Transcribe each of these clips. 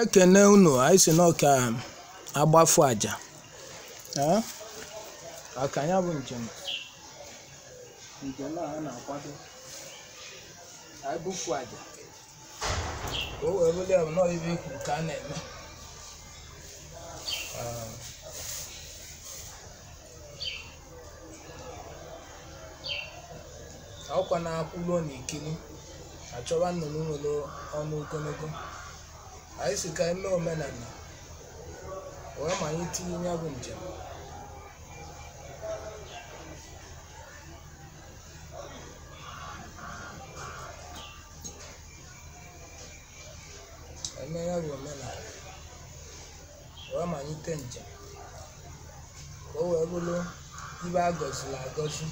ekene unu anyị si n'ọka agbafu aja ee maka ya bụ njem njem a na-akwado anyị bufu aja ka o wee bụrụ ya bụ nnọọ ive e kwuru ka a na-eme ọ kwa na akwụ luo n'ikili achọwa nnụnụ nwere ọnụ ogologo anyị sị ka anyị mee omenala wee malite ya bụ njem e mee ya bụ omenala wee malite njem ka o wee bụrụ ive a gọziri agọzi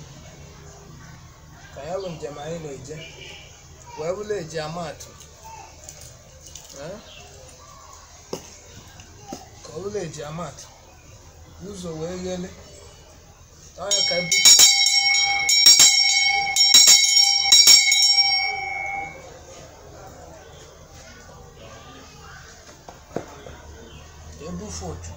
ka ya bụ njem anyị na-eje wee bụrụ eji amatụ ee, ka ọ bụrụ eji amatụ ụzọ wee ghele oye ka ebu Ebu foto.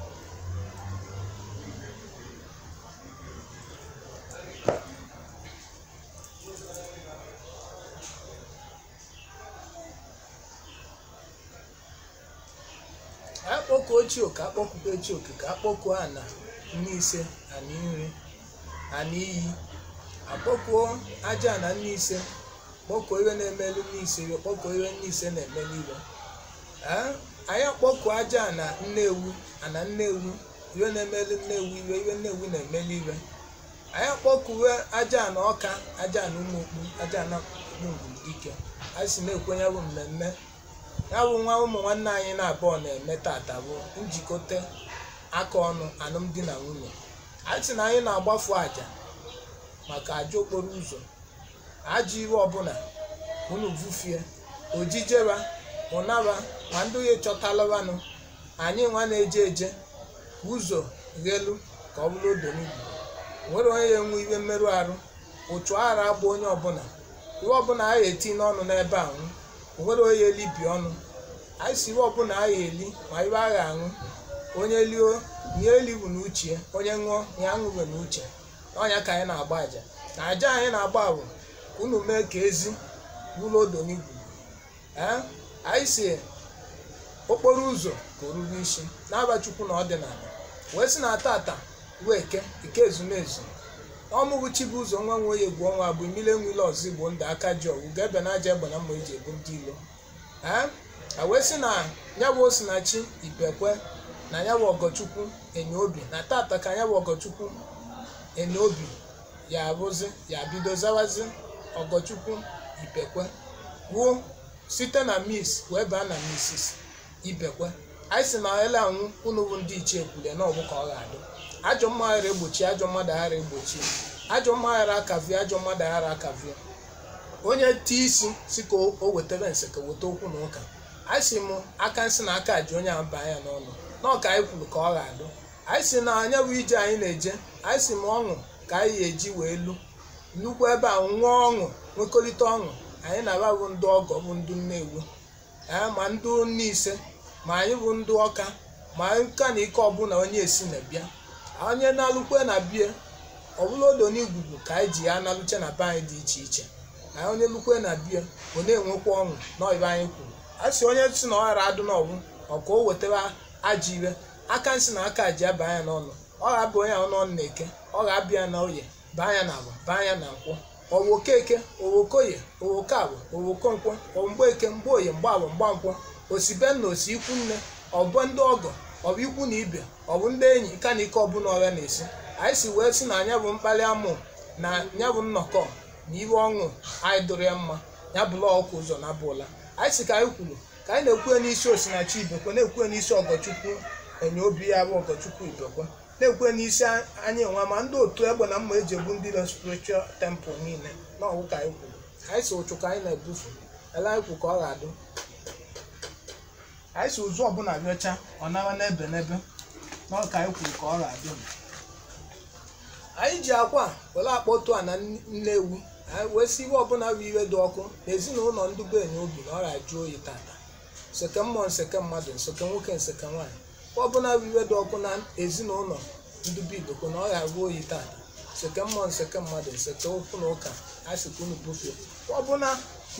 akpọkuo ochie oke akpọkukwa ochie oke ka akpọkuo ana nise ana nri ana iyi akpọkuo ajana nise kpọkuo ive na-emelu nise ive kpọkuo ive nise na-emelu ive Ee, anyị akpọkuo ajana nnewu ana nnewu ive na-emelu nnewu ive ive nnewu na-emelu ive anyị akpọkuwe ajana ọka ajana ụmụokpu ajana ngwurudike anyị sị nekwe ya bụ mmemme ya bụ nwa ụmụ nwanne anyị naabọ na-eme tata bụ njikọta aka ọnụ alụmdi na nwunye anyị sị na anyị na-agbafu aja maka ajọ okporo ụzọ ajọ ive ọbụla unu vufie ojije va ụna va ma ndị ya chọtalụ va nụ anyị nwa na-eje eje ka ụzọ ghelu ka ọ bụrụ odo n'igu o nwere onye ya-enwe ive mmerụ arụ ụchụ ara agba onye ọbụla ive ọbụla a gha-etinye ọnụ n'ebe anwụ o nwere onye ya-elibi ọnụ anyị sị ive ọbụla a gha-eli ma ive a gha-aṅụ onye lie nya eliwe na uche onye ṅụọ ya aṅụwe na uche ọ nya ka anyị na-agba aja na aja anyị na-agba bụ ka unu mee ka ezi bụrụ odo n'igu ee anyị sị okporo ụzọ ka oruru isi n'ava chukwu na ọdịnala wee sị na tata wee eke ike ezumezu ọmụ bụ chi bu ụzọ nwa nwe onye egwu ọnwa bụ mmiri enwile ọzọ igbo ndụ aka ji ọgwụ ga-ebe na aja egbe na mma eji egbu ndị ilo ee wee sị na ya bụ osinachi ibekwe na ya bụ ọgọchukwu enyiobi na tata ka ya bụ ọgọchukwu enyiobi ya abụzi ya bido zawazi ọgọchukwu ibekwe wuo site na miss wee baa na missis ibekwe anyị si na ele anwụ unu bụ ndị ichie kwule na ọbụ ka ọ ga-adị ajọ mmụọ aghara egbochi ajọ mmadụ aghara egbochi ajọ mmụọ aghara akavie ajọ mmadụ aghara akavie onye ti isi si ka o o wetara nseke weta okwu na ụka anyị si m aka nsị na aka ji onye abaa nya n'ọnụ na ọ ka anyị kwuru ka ọ ga-adụ anyị si na nya bụ ije anyị na-eje anyị si m ọṅụ ka anyị ga-eji wee lu nnukwu ebe a nwee ọṅụ nwekọrịta ọṅụ anyị na-aba bụ ndị ọgọ bụ ndị nnewi ee ma ndị Nneise ma anyị bụ ndị Ọka ma nka na ike ọbụla onye si na bịa onye na-alụkwe na bie ọbụla udo n'igwugwu ka anyị ji ya analụche na be anyị dị iche iche anyị onye lụkwe na bie ọ na-enwekwa ọṅụ na ọ ive anyị kwuru a sị onye si na ọ ghara adụ na ọbụ ka o wetara ajọ ire aka nsị na aka ji abaa nya n'ọnụ ọ ga-aba onye ahụ n'ọnụ na eke ọ ga-aba ya na oye baa ya na afọ baa ya na nkwọ ọwụ okeke ọwụ okoye ọwụ okafọ ọwụ okonkwọ ọwụ mgbeke mgboye mgbafọ mgbankwọ o si be nna o si ikwu nne ọbụ ndị ọgọ ọbụ ikwu na ibe ọbụ ndị enyi ka na ike ọbụla onye na-esi anyị si wee si na nya bụ mkpali amụ na nya bụ nnọkọ na ive ọṅụ anyị dụrụ ya mma ya bụla ọkụ ụzọ na bụla anyị si ka anyị kwuru ka anyị na-ekwue n'isi osinachi ibekwe na-ekwue n'isi ọgọchukwu enyiobi ya bụ ọgọchukwu ibekwe na-ekwue n'isi anyị nwa ma ndị otu egbe na mma eji egbu ndị ilo spiritual temple niile na ọwụ ka anyị kwuru anyị si ụchụ ka anyị na-ebufu ele anyị kwu ka ọ ga-adụ anyị si ụzọ ọbụla bịacha ọ nara n'ebe n'ebe na ọ ka anyị kwuru ka ọ ga-adụ anyị ji akwa were akpọtụ ana nnewi anyị wee si ive ọbụla bụ ive dị ọkụ na ezinụlọ ndị be enyiobi na ọ ga-ajụ oyi tata nseke mmụọ nseke mmadụ nseke nwoke nseke nwaanyị ọbụla bụ ive dị ọkụ na ezinụlọ ndị be ibekwe na ọ ga-ajụ oyi tata nseke mmụọ nseke mmadụ nseke okwu na ụka a sị ka unu bufie ọbụla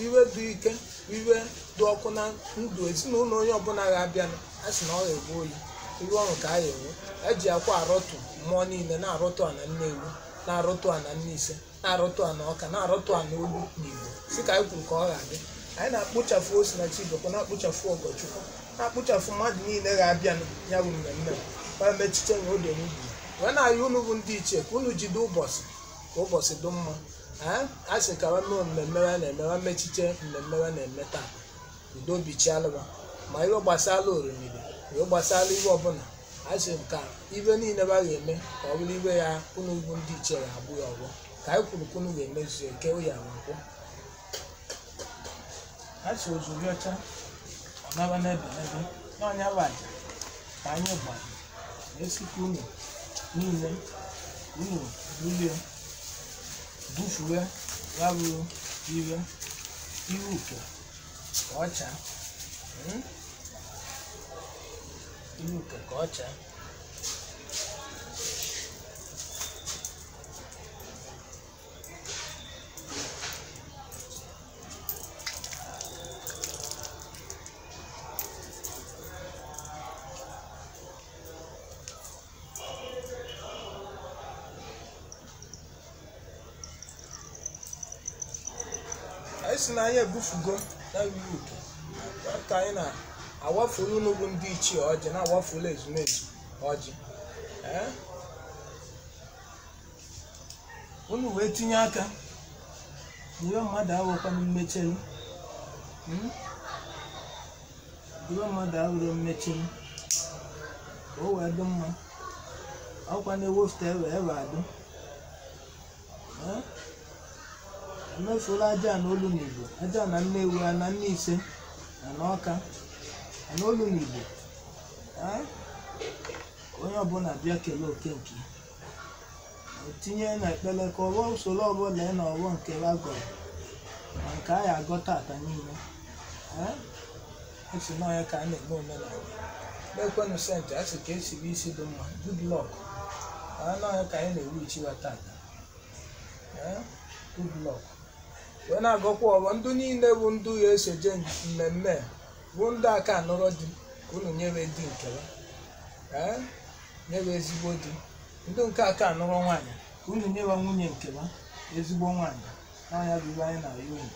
ive dị ike ive dị ọkụ na ndụ ezinụlọ onye ọbụla ga-abịanụ a sị na ọ ga-ajụ oyi ive ọṅụ ka a ga-enwe eji akwa arọtụ mmụọ niile na-arọtụ ana nnewi na-arọtụ ana nneise na-arọtụ ana ọka na-arọtụ ana olu n'igbo si ka anyị kwuru ka ọ ga-adị anyị na-akpụchafụ osinachi ibekwe na-akpụchafụ ọgọchukwu na-akpụchafụ mmadụ niile ga-abịanụ ya bụ mmemme wee mechiche na udo n'ugwu wee na-ayọ unu bụ ndị ichie ka unu jide ụbọchị ka ụbọchị dị mma a sị ka wee mee mmemme a na-eme wee mechiche mmemme a na-eme taa udo bichialụba ma ihe gbasara orimiri ihe gbasara ihe ọbụla a sị m ka ibe niile ba ga-eme ka ọ bụrụ ibe ya unu bụ ndị ichie ya abụ ya ọfọ ka anyị kwuru ka unu ga-emezu ya eke ya nkwọ a sị ozuru ọ chaa ọ naba n'ebe n'ebe na ọ ya bụ aja ka anyị gbara wee sị ka unu niile ka unu bulie bufuwe ya bụ ihe ihe uke ka ọ chaa Mm. ihe uke ka ọ chaa anyị si na anyị ebufugo na ihe uke ka anyị na-awafuru unu bụ ndị ichie ọjị na-awafuru ezumezu ọjị ee unu wee tinye aka ihe mmadụ awụkwa mmechelu Mm? ihe mmadụ awụrụ mmechelu ka o wee dị mma ọkwa na-ewefute ebe ebe adụ Eh? emefuola aja na olu na igbo aja na nnewi ya na nise na na ọka na na olu na igbo Eh? Ka onye ọbụla bịa kelee oke nke ya. O tinye na ekpele ka ọfọ usoro ọbụla ị na ọfọ nke a gọrọ ma nke anyị agọ tata niile Eh? a sị na ọ ya ka a na-eme omenala na-ekwenụ senti a sị ka isi bụ isi dị mma good luck aa na ọ ya ka anyị na-ewu ichiwa tata ee good luck wee na-agọkwa ọfọ ndị niile bụ ndị ya eso je mmemme bụ ndị aka anụrọ di ka unu nyewe di nke ya ee nyewe ezigbo di ndị nke aka anụrọ nwaanyị ka unu nyewe nwunye nke ya ezigbo nwaanyị na ọ ya bụ ihe anyị na-ayọ unu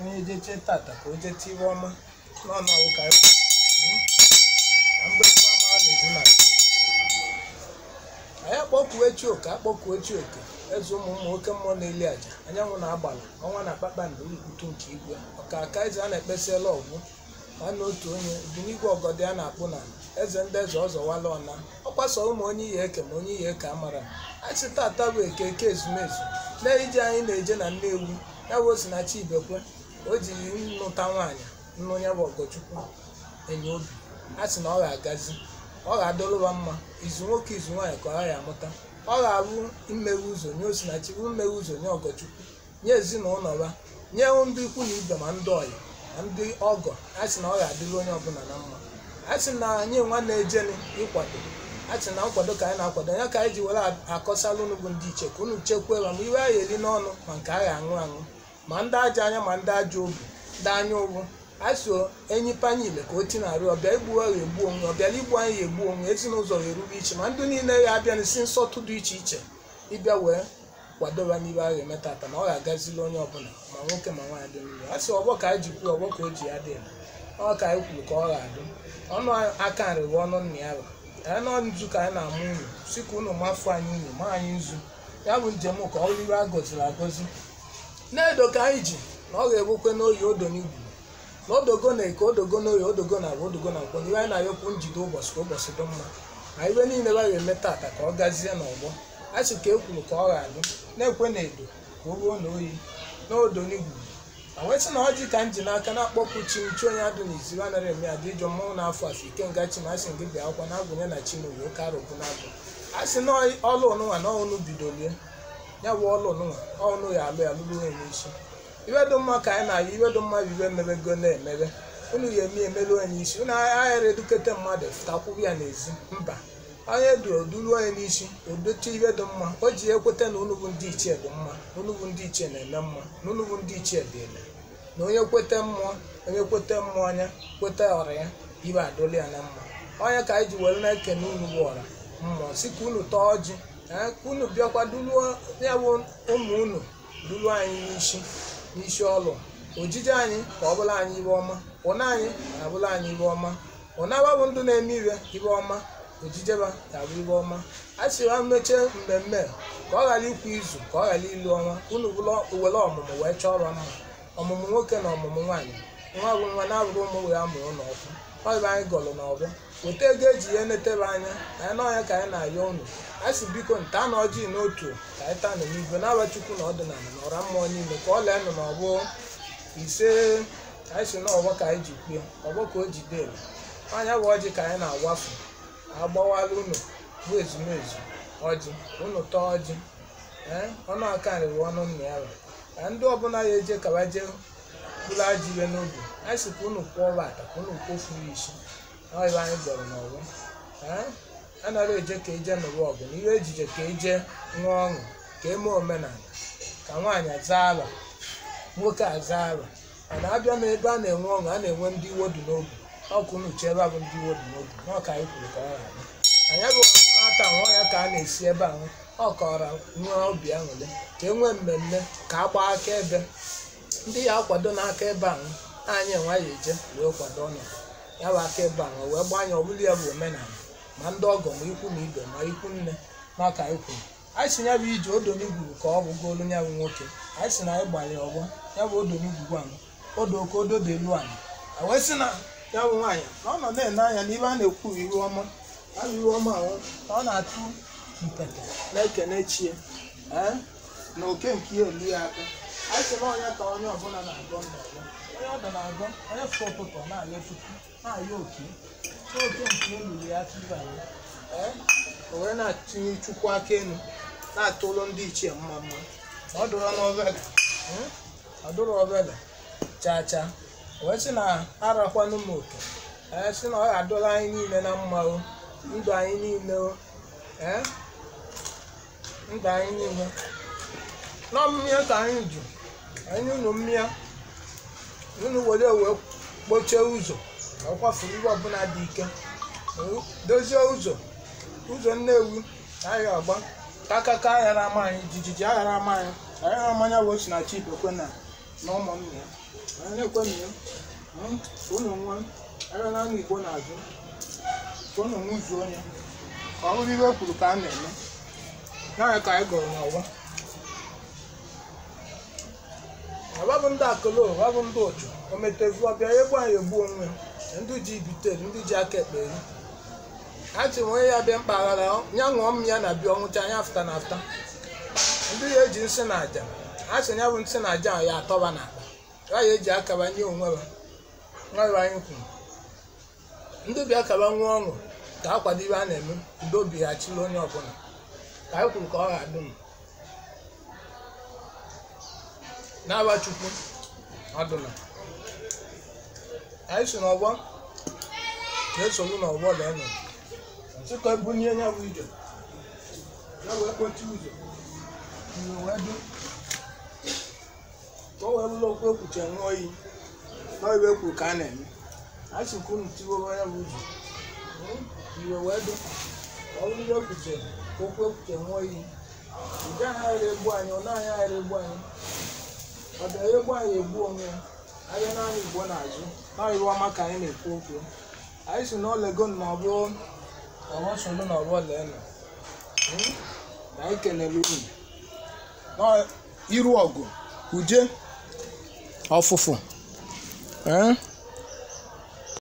onye je chee tata ka o jete ihe ọma n'ọnụ ọgwụ ka anyị na mgbịrịgba ama a na-eji na anyị akpọkuo chi oke akpọkuo chi oke eze ụmụ mmụọ oke mmụọ na-eli aja anyanwụ na agbala ọnwa na kpakpando mkputu nke igwe ọkaaka eze a na-ekpesiela ọgwụ nwanne otu onye bi n'igwe ọgọdọ ya na-akpụ n'ana eze ndị eze ọzọwala ọna ọkwa sọ ụmụ onye ihe eke ma onye ihe eke amara a sị tata bụ eke eke ezumezu lee ije anyị na-eje na nnewi ya bụ osinachi ibekwe o ji nnụta nwaanyị nnụ ya bụ ọgọchukwu enyi obi a sị na ọ ga-agazi ọ ga-adọlụwa mma izu nwoke izu nwaanyị ka ọ ya amụta ọ ga-abụ mmeghe ụzọ nye osinachi bụ mmeghe ụzọ nye ọgọchukwu nye ezinụlọ ya nye ndị ikwu na ibe ma ndị ọyị na ndị ọgọ anyị sị na ọ ga-adịrị onye ọbụla na mma anyị sị na anyị nwa na-ejeni ịkwado anyị sị na nkwado ka anyị na-akwado ya ka anyị ji were akọsala unu bụ ndị ichie ka unu chekwaa ma ife anyị eri n'ọnụ ma nke anyị aṅụ aṅụ ma ndị ajọ anya ma ndị ajọ obi ndị anya ụfụ anyị so enyi panyile ka o tinarị ọbịa igbu ya egbu onwe ọbịala igbu anyị ya egbu onwe ezinụlọ ya erube iche ma ndị niile ga-abịa n'isi nsọtụ dị iche iche ịbịa wee kwadoro n'ife a ga-eme tata na ọ ga-agazili onye ọbụla ma nwoke ma nwaanyị dị n'ụlọ a sị ọfọ ka anyị ji kwuo ọfọ ka o ji ya dị ile. ọ ka anyị kwuru ka ọ ga-adụ ọnụ aka nrị bụ ọnụ nna ya bụ anyị nọ nzu ka anyị na-amụ unu sị ka unu mafụ anyị unu ma anyị nzu ya bụ njem ka ọ bụrụ ife a gọziri agọzi na-edo ka anyị ji na ọ ga-egbukwe n'oye odo n'igwu na odogo na eke odogo na oye odogo na afọ odogo na nkwọ na ife anyị na-ayọkwu njide ụbọchị ka ụbọchị dị mma na ife niile fa ga-eme tata ka ọ gazie n'ọfọ a sị ka e kwuru ka ọ ga-adụ na-ekwe na edo ka o ruo na oye na odo n'igwu m wee sị na ọjị ka m ji n'aka na-akpọku chi m chi onye adụ na izu ife anaghị eme ya dị ịjọ mmanwụ na afọ afọ ike nga chi na asị gị bịa akwụkwọ na-agụnye na chi na uwe oke arụbụ na abụ a sị na ọlụ ọnụnwa na unu bidolie ya bụ ọlụ ọnụnwa unu ya alụ ya lụrụ onye n'isi ife dị mma ka anyị na-ayọ ife dị mma bụ ife mebego na-emebe unu ya eme emelu onye n'isi unu aghara edukete mmadụ fụtakwuru ya n'ezi mba onye du oduru onye n'isi odote ife dị mma o ji ekweta na unu bụ ndị ichie dị mma na unu bụ ndị ichie na-eme mma na unu bụ ndị ichie dị ile na onye kweta mmụọ onye kweta mmụọ ọ ya kweta ọra ya ife adụla ya na mma ọ ya ka anyị ji were na-ekene unu bụ ọra mmụọ sị ka unu taa ọjị ee, ka unu bịakwa duruo ya bụ ụmụ unu duru anyị n'isi n'isi ọlụ ojije anyị ka ọ bụla anyị ife ọma ụna anyị ka abụla anyị ife ọma ụna fa bụ ndị na-eme ife ife ọma ojije fa ka abụ ife ọma a sị ha meche mmemme ka ọ ghara ikwu izu ka ọ ghara ilu ọnwa unu bụla were ọmụmụ wee chọọ ọra mma ọmụmụ nwoke na ọmụmụ nwaanyị nwa bụ nwa na-abụrụ ụmụ wee amụrụ ụlọ ọkụ ọ ife anyị gọrọ n'ọfọ weta ego e ji ya enetebe anya anyị na ọ ya ka anyị na-ayọ unu anyị sị biko nụ taa nụ ọjị n'otu ka anyị taa nụ n'ibe n'afa chukwu na ọdịnala na ọra mmụọ niile ka o lee nụ na ọfọ ise anyị sị na ọfọ ka anyị ji kpee ọfọ ka o ji dị ile ọ ya bụ ọjị ka anyị na-agbafu agbawala unu bụ ezumezu ọjị unu taa ọjị ee ọnụ aka nrị bụ ọnụ nna ya ra. Ka ndị ọbụla ya eje kaba jee buru ajọ ife n'obi anyị sị ka unu kwụọ ọba ata ka unu kpofu ya isi na ọ ife anyị gọrọ n'ọfọ Ee? anaghị eje ka eje nụrụ ọgụ na ihe e ji eje ka eje nwee ọṅụ ka eme omenala ka nwaanyị zaa afa nwoke azaa afa mana abịa na ebe a na-enwe ọṅụ a na-enwe ndị iwo dị n'obi ọkụ unu uche ebe a bụ ndị iwo dị n'obi na ọ ka anyị kwuru ka ọ na-abụ anyị abụghị na ata nwa ya ka a na-esi ebe ahụ ọ ka ọra nwee obi aṅụrị ka e nwee mmemme ka a gbaa akaebe ndị ya akwado n'akaebe ahụ anyị enwe ya eje wee kwado ọnụ ya bụ akaebe ahụ wee gbanye ọ bụlụ ya bụ omenala ma ndị ọgọ ma ikwu na ibe ma ikwu nne maka anyị kwuru anyị si ya bụ ije odonigwuru ka ọ bugolu ya bụ nwoke anyị si na anyị gbara ya ọgbọ ya bụ odonigwuru ahụ odo ka odo dị elu anyị wee sị na ya bụ nwaanyị na ọ nọ na-ele anya n'ive a na-ekwu bụ iru ọma a bụ iru ọma ahụ na ọ na-atụ mpete na-ekene chi ya na oke nke ya elu ya aka a sị na onye ka onye ọbụla na-agọ nna ya onye ọ dọ na-agọ onye fụ ụtụtụ na-ayọ chukwu na-ayọ oke na oke nke ya luru ya aka ibe anyị ee o wee na-atụnye chukwu aka elu na-atụrụ ndị ichie mma mma na ọ dụrụ n'ọbịa ọ dụrụ obele chaa chaa wee sị na arakwanụ m oke ee sị na ọ ga-adụla anyị niile na mma o ndụ anyị niile o ee ndụ anyị niile na mmịa ka anyị ju anyị unu mmịa unu were wee kpochie ụzọ wee kwafu ive ọbụla dị ike wee dozie ụzọ ụzọ nnewi anyị agba takaka aghara ama anyị jijiji aghara ama anyị anyị hụrụ mmanya bụ otu na chi bekwe na na ụmụ nna ya anyị na-ekwe na ya Mm, ka unu nwe ebe n'anị igbo na-azụ ka unu nwụzuo onye ka ọ bụrụ ive e kwuru ka a na-eme naanị ka anyị gọrọ n'ọgbọ ọba bụ ndị akụlụ ọba bụ ndị ụchụ o metevu ọbịa egbu anyị egbuo onwe ya ndị ji ibite ndị ji aka ekpe eri a sị onye ya bịa mkpa aghara ya ṅụọ m ya na bịa ọnwụcha ya fụta na afụta ndị ya eji nsị na aja a sị ya bụ nsị na aja ahụ ya atọ va n'akpa ya ya eji aka va nye onwe va nwayo anyị kwuru ndị bịa ka va nwee ọṅụ ka a kwado ive a na-eme ndị ọbịa chịrị onye ọbụla ka anyị kwuru ka ọ ga-adụ n'ava chukwu adụla anyị si n'ọgbọ ka esolu n'ọgbọ na enọ nsị ka e bunye ya bụ ije ya wee kpochi ụzọ ive wee dụ ka o wee bụrụ okwu ekwuche ṅụọ iyi na ive e kwuru ka a na-eme a sị ka unu tiwe ya bụ ụzọ ive wee dị ka ọ bụrụ ihe ekwuche ka okwu ekwuche ṅụọ iyi nke anyị aghara egbu anyị ọ naghị aghara egbu anyị ọ bịara egbu anyị egbuo onwe ya ahịa n'anị igbo na-azụ na ive ọma ka anyị na-ekwu okwu anyị si na olego na ọ bụ ọwa solu na ọwa lee nọ na anyị kelere unu iru ọgụ uje ọfụfụ ee